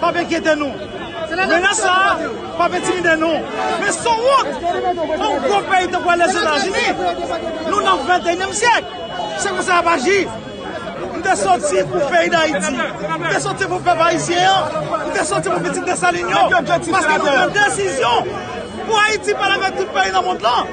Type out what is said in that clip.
p ap enkyete nou. Menas sa a p ap entimide nou. Men son wont pou yon gwo peyi tankou Lèzetazini. Nou nan ventenyèm syèk. Se konsa y ap aji. M te soti pou peyi Dayiti. M te soti pou pèp ayisyen an. M te soti pou pitit Desalin yo. Paske nou pran desizyon pou Ayiti pale avèk tout peyi nan mond lan.